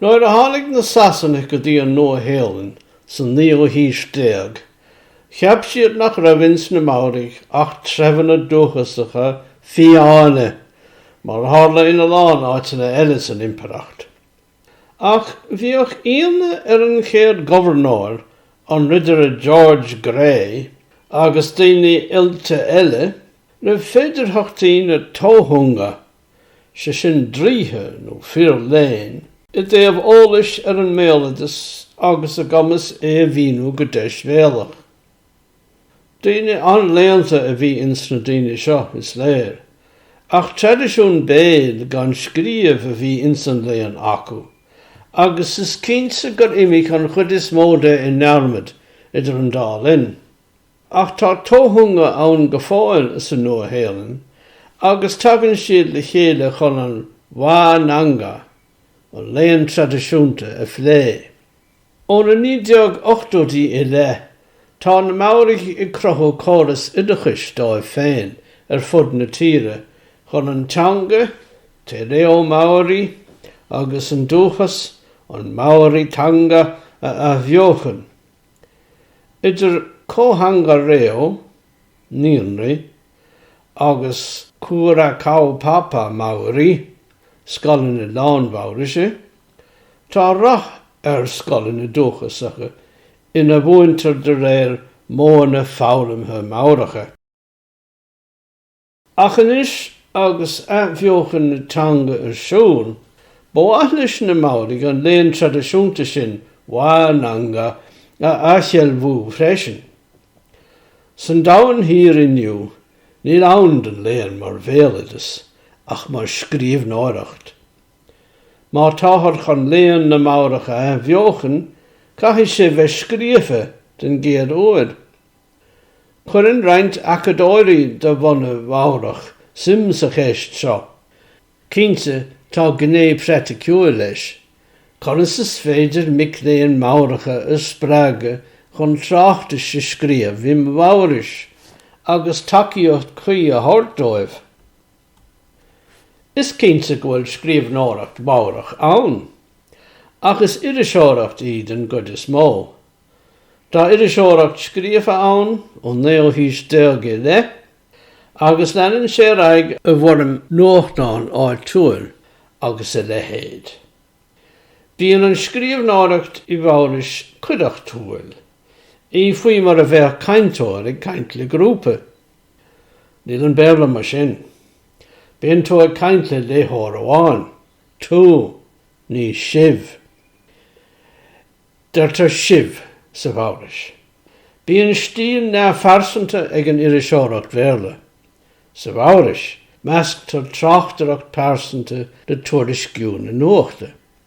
Nuair a tháinig na Sasanaigh go dtí an Nua-Shéalainn sa naoú haois déag, cheap siad nach raibh ins na Maoraigh ach treibheanna dúchasacha fiáine, mar a tharla ina lán áiteanna eile san impireacht. Ach bhíodh ionadh ar an chéad ghobharnóir, an Ridire George Grey, agus daoine oilte eile, roimh féidearthachtaí na tohunga, sé sin draoithe nó fir léinn, i dtaobh eolais ar an mbéaloideas agus a gcumas é a mhíniú go deisbhéalach. Daoine an-léannta a bhí ins na daoine seo, is léir, ach traidisiún béil gan scríobh a bhí ins an léann acu, agus is cinnte gur imigh an chuid is mó de i ndearmad idir an dá linn. Ach tá tohunga ann go fóill sa Nua-Shéalainn, agus tagann siad le chéile chun an Wānanga, an léann traidisiúnta, a phlé. Ó na 1980idí i leith, tá na Maoraigh ag cruthú córas oideachais dóibh féin ar fud na tíre chun an teanga, te reo Māori, agus an dúchas, an Māoritanga, a athbheochan. Idir Kōhanga Reo, naíonraí, agus Kura Kaupapa Māori, scoileanna lán-Mhaoraise, Tá rath ar scoileanna dúchasacha ina mhúintear de réir modhanna foghlamtha Maoracha. Ach anois agus athbheochan na teanga ar siúl, ba mhaith leis na Maoraigh an léann traidisiúnta sin, wānanga, a athsheilbhiú freisin. San domhan thiar inniu, níl ann don léann mar bhéaloideas ach mar scríbhneoireacht. Má táthar chun léann na Maorach a athbheochan, caithfidh sé bheith scríofa den gcéad uair. Cuireann roinnt acadóirí de bhunadh Mhaorach suim sa cheist seo. Cinnte, tá gné phraiticiúil leis, conas is féidir mic léinn Maoracha a spreagadh chun tráchtais a scríobh i Maorais agus tacaíocht chuí a thabhairt dóibh? Is cinnte go bhfuil scríbhneoireacht Mhaorach ann, ach is iriseoireacht í den gcuid is mó. Tá iriseoireacht scríofa ann ón naoú haois déag i leith, agus leanann sé ar aghaidh i bhfoirm nuachtán áitiúil agus a leithéid. Bíonn an scríbhneoireacht i Maorais cuideachtúil, í faoi mar a bheadh cainteoir ag caint le grúpa. Níl an Béarla mar sin. Bíonn tú ag caint le léitheoir amháin, tú, ní sibh. Deirtear sibh sa Mhaorais. Bíonn stíl neamhphearsanta ag an iriseoireacht Bhéarla. Sa Mhaorais, measctar tráchtaireacht phearsanta le tuairisciú na nuachta.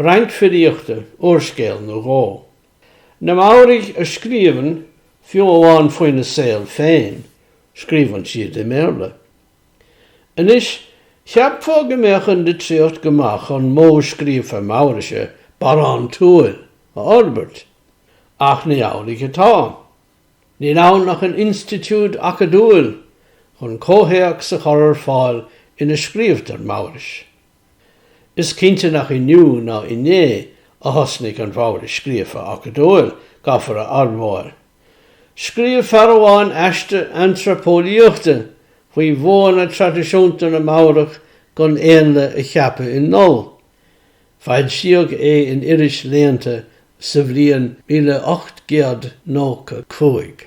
roinnt filíochta, úrscéal nó dhó. Na Maoraigh a scríobhann fiú amháin faoina saol féin, scríobhann siad i mBéarla. Anois, cheapfá go mbeadh an litríocht go maith chun modh scríofa Maoraise barántúil a fhorbairt, ach ní amhlaidh atá. Níl ann ach an institiúid acadúil chun comhthéacs a chur ar fáil ina scríobhtar Maorais. Is cinnte nach inniu ná inné a thosnaigh an Mhaorais scríofa acadúil, caithfear a admháil. Scríobh fear amháin aiste antraipeolaíochta faoi mhodhanna traidisiúnta na Maorach chun éanlaith a cheapadh i ndol. Foilsíodh é in iris léannta sa bhliain míle ocht gcéad nócha cúig.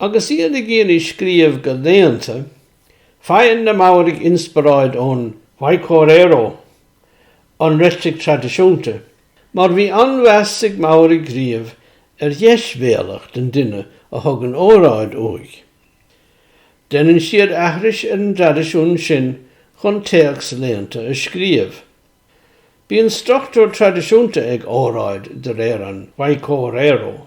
Agus iad ag iarraidh scríobh go léannta, faigheann na Maoraigh inspioráid ón whaikōrero, an reitric traidisiúnta, mar bhí an-mheas ag Maoraigh riamh ar dheisbhéalacht an duine a thugann óráid uaidh. Deineann siad aithris ar an dtraidisiún sin chun téacs léannta a scríobh. Bíonn struchtúr traidisiúnta ag óráid de réir an whaikōrero.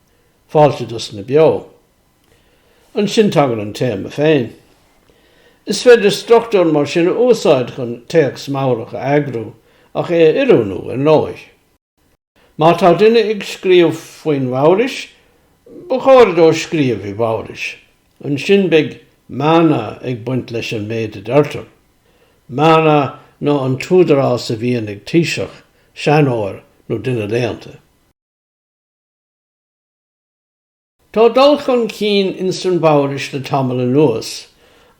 Fáilte do sna beo. Ansin tagann an téama féin. Is féidir struchtúr mar sin a úsáid chun téacs Maorach a eagrú ach é a oiriúnú ar ndóigh. Má tá duine ag scríobh faoin Mhaorais, ba chóir dó scríobh i Maorais. Ansin beidh mana ag baint leis an méid a deirtear. Mana ná an t-údarás a bhíonn ag taoiseach, seanóir nó duine léannta. Tá dul chun cinn ins an Mhaorais le tamall anuas,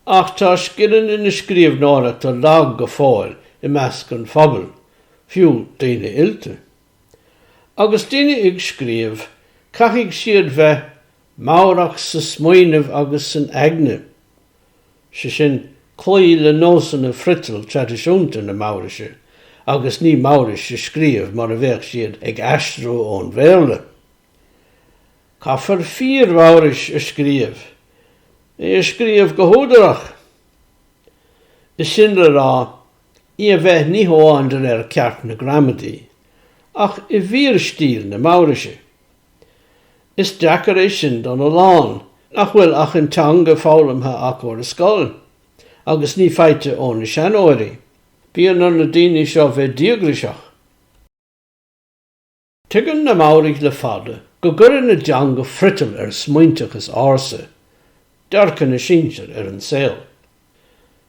ach tá scileanna na scríobhnóireachta lag go fóill i measc an phobail, fiú daoine oilte. Agus daoine ag scríobh, caithfidh siad bheith Maorach sa smaoineamh agus san aigne. is é sin, cloí le nósanna friotail traidisiúnta na Maoraise, agus ní Maorais a scríobh mar a bheadh siad ag aistriú ón Bhéarla. Caithfear fíor-Mhaorais a scríobh, í a scríobh go húdarach, is sin le rá, í a bheith ní hamháin de réir ceart na gramadaí, ach i bhfíorstíl na Maoraise. Is deacair é sin don a lán nach bhfuil ach an teanga foghlamtha acu ar scoil, agus ní faighte ó na seanóirí. Bíonn ar na daoine seo bheith díograiseach. Tuigeann na Maoraigh le fada go gcuireann a dteanga friotal ar a smaointeachas ársa, dearcadh na sinsir ar an saol.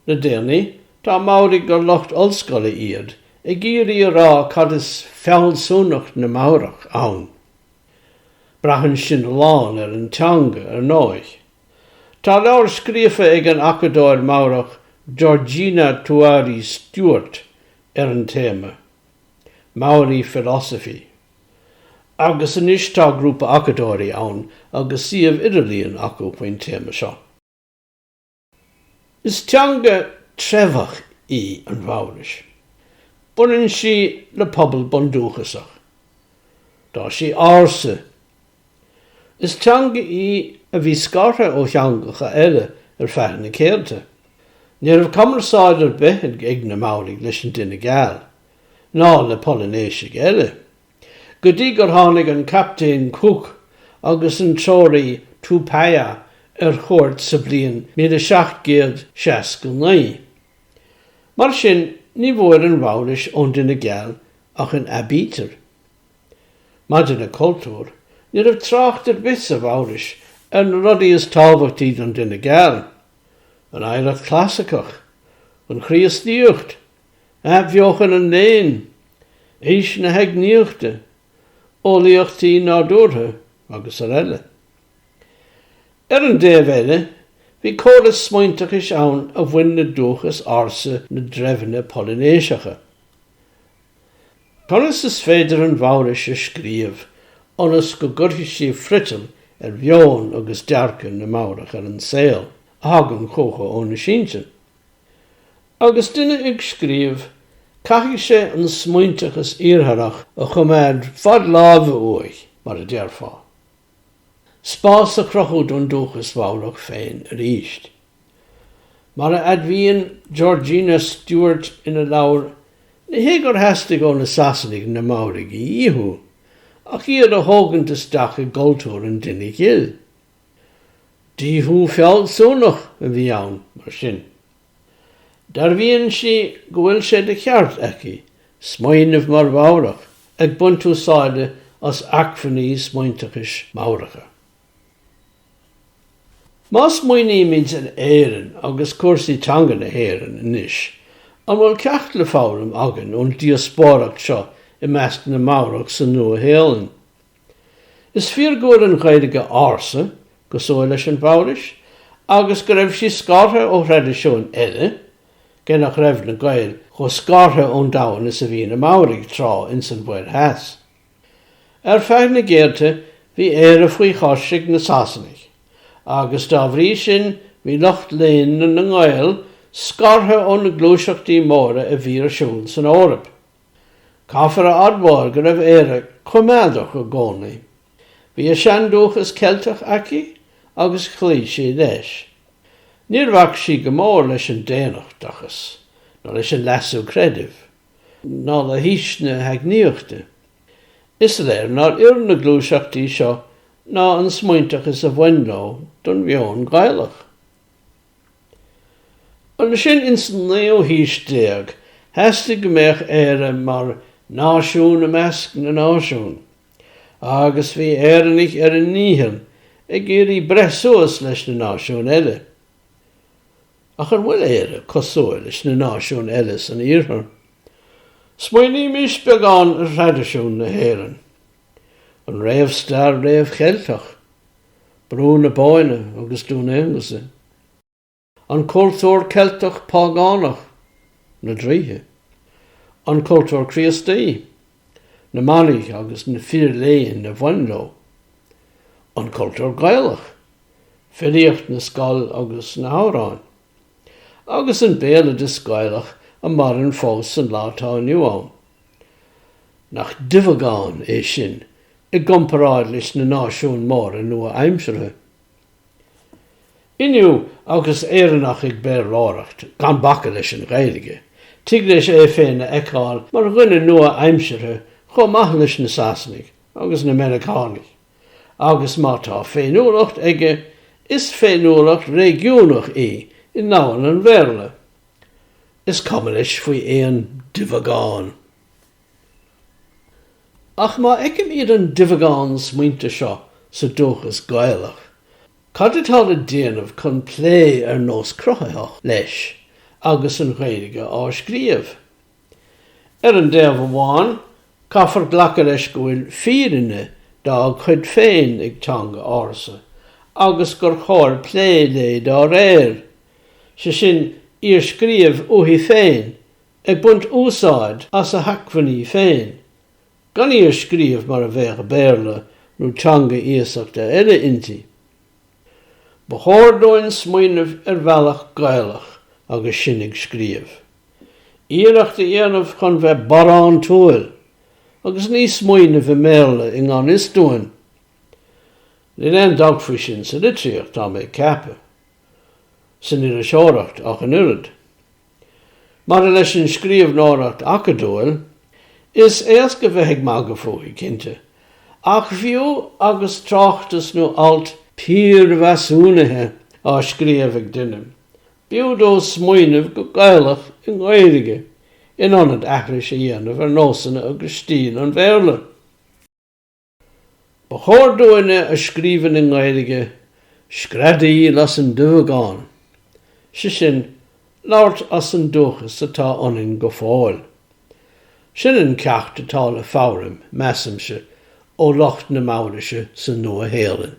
Le déanaí, tá Maoraigh gur lucht ollscoile iad ag iarraidh a rá cad is fealsúnacht na Maorach ann. Braitheann sin a lán ar an teanga, ar ndóigh. Tá leabhar scríofa ag an acadóir Maorach Georgina Tuari Stewart ar an téama, Maori Philosophy, agus anois tá grúpa acadóirí ann agus suíomh idirlíon acu faoin téama seo. Is teanga treibheach í an Mhaorais. Baineann sí le pobal bundúchasach. Tá sí ársa. Is teanga í a bhí scartha ó theangacha eile ar feadh na céadta. Ní raibh cumarsáid ar bith ag na Maoraigh leis an duine geal, ná le Polainéisigh eile. go dtí gur tháinig an Captaen Cook agus an treoraí Tupaia ar chuairt sa bhliain 1769. Mar sin, ní bhfuair an Mhaorais ón duine geal ach an aibítir. Maidir le cultúr, ní raibh trácht ar bith sa Mhaorais ar na rudaí is tábhachtaí don duine geal, an oidhreacht chlasaiceach, an Chríostaíocht, Athbheochan an Léinn, Aois na hEagnaíochta, Eolaíochtaí Nádúrtha agus ar eile. Ar an dtaobh eile, bhí córas smaointeachais ann a bhain le dúchas ársa na dtreibheanna Polainéiseacha. Conas is féidir an Mhaorais a scríobh ionas go gcuirfidh sí friotal ar mheon agus dearcadh na Maorach ar an saol, a thagann chucu óna sinsir? Agus duine ag scríobh, caithfidh sé an smaointeachas Iartharach a choimeád fad láimhe uaidh, mar a déarfá. Spás a chruthú don dúchas Mhaorach féin arís. Mar a admhaíonn Georgina Stewart ina leabhar, ní hé gur theastaigh ó na Sasanaigh na Maoraigh a dhíothú, ach iad a thógaint isteach i gcultúr an duine ghil. Díothú fealsúnach a bhí ann, mar sin. Dearbhaíonn sí go bhfuil sé de cheart aici smaoineamh mar Mhaorach ag baint úsáide as acmhainní smaointeachais Maoracha. Má smaoinímid ar Éirinn agus cúrsaí teanga na hÉireann anois, an bhfuil ceacht le foghlaim againn ón díospóireacht seo i measc na Maorach sa Nua-Shéalainn? Is fíor go bhfuil an Ghaeilge ársa cosúil leis an Mhaorais agus go raibh sí scartha ó thraidisiúin eile, cé nach raibh na Gaeil chomh scartha ón domhan is a bhí na Maoraigh tráth ins an Mhuir Theas. Ar feadh na gcéadta, bhí Éire faoi chois ag na Sasanaigh, agus dá bhrí sin bhí lucht léinn na nGael scartha ó na gluaiseachtaí móra a bhí ar siúl san Eoraip. Caithfear a admháil go raibh Éire coimeádach i gcónaí. Bhí a seandúchas Ceilteach aici agus chloígh sí leis. Níor bhac sí go mór leis an daonnachtachas, ná leis an leasú creidimh, ná le haois na hEagnaíochta. Is léir nár oir na gluaiseachtaí seo ná an smaointeachas a bhain leo don mheon Gaelach. Ansin ins an naoú haois déag theastaigh go mbeadh Éire mar náisiún i measc na náisiún, agus bhí Éireannaigh ar a ndícheall ag iarraidh breith suas leis na náisiúin eile. Ach an bhfuil Éire cosúil leis na náisiúin eile san Iarthar? Smaoinímis beagán ar thraidisiún na hÉireann. An réamhstair réamh-Cheilteach? Brú na Bóinne agus Dún Aonghusa, an cultúr Ceilteach págánach, na draoithe, an cultúr Críostaí, na manaigh agus na fir léinn a bhain leo, an cultúr Gaelach, filíocht na scol agus na hamhráin. agus an béaloideas Gaelach a maireann fós san lá atá inniu ann. Nach duibheagán é sin i gcomparáid leis na náisiúin móra nua-aimseartha? Inniu, agus Éireannach ag Béarlóireacht, gan bacadh leis an Ghaeilge, tig leis é féin a fheiceáil mar dhuine nua-aimseartha chomh maith leis na Sasanaigh agus na Meiriceánaigh. agus má tá féiniúlacht aige, is féiniúlacht réigiúnach í i ndomhan an Bhéarla. Is cuma leis faoi aon duibheagán. Ach má fheicimid an duibheagán smaointe seo sa dúchas Gaelach, cad atá le déanamh chun plé ar nós cruthaitheach leis agus an Ghaeilge á scríobh? Ar an dtaobh amháin, caithfear glacadh leis go bhfuil fírinne dá cuid féin ag teanga ársa agus gur chóir plé léi dá réir, sé sin, í a scríobh uaithi féin, ag baint úsáid as a hacmhainní féin, gan í a scríobh mar a bheadh Béarla nó teanga iasachta eile inti. Ba chóir dúinn smaoineamh ar bhealach Gaelach agus sinn ag scríobh. Iarracht a dhéanamh chun bheith barántúil agus ní smaoineamh i mBéarla i ngan fhios dúinn. Níl aon dabht faoi sin sa litríocht, tá mé ag ceapadh. San iriseoireacht ach an oiread. Maidir leis an scríbhneoireacht acadúil, is éasca bheith ag magadh fúithi, cinnte, ach fiú agus tráchtas nó alt piarmheasúnaithe á scríobh ag duine, b'fhiú dó smaoineamh go Gaelach i nGaeilge in ionad aithris a dhéanamh ar nósanna agus stíl an Bhéarla. Ba chóir dúinne a scríobhann i nGaeilge screadaíl as an duibheagán, sé sin, labhairt as an dúchas atá ionainn go fóill. Sin an ceacht atá le foghlaim, measaimse, ó lucht na Maoraise sa Nua-Shéalainn.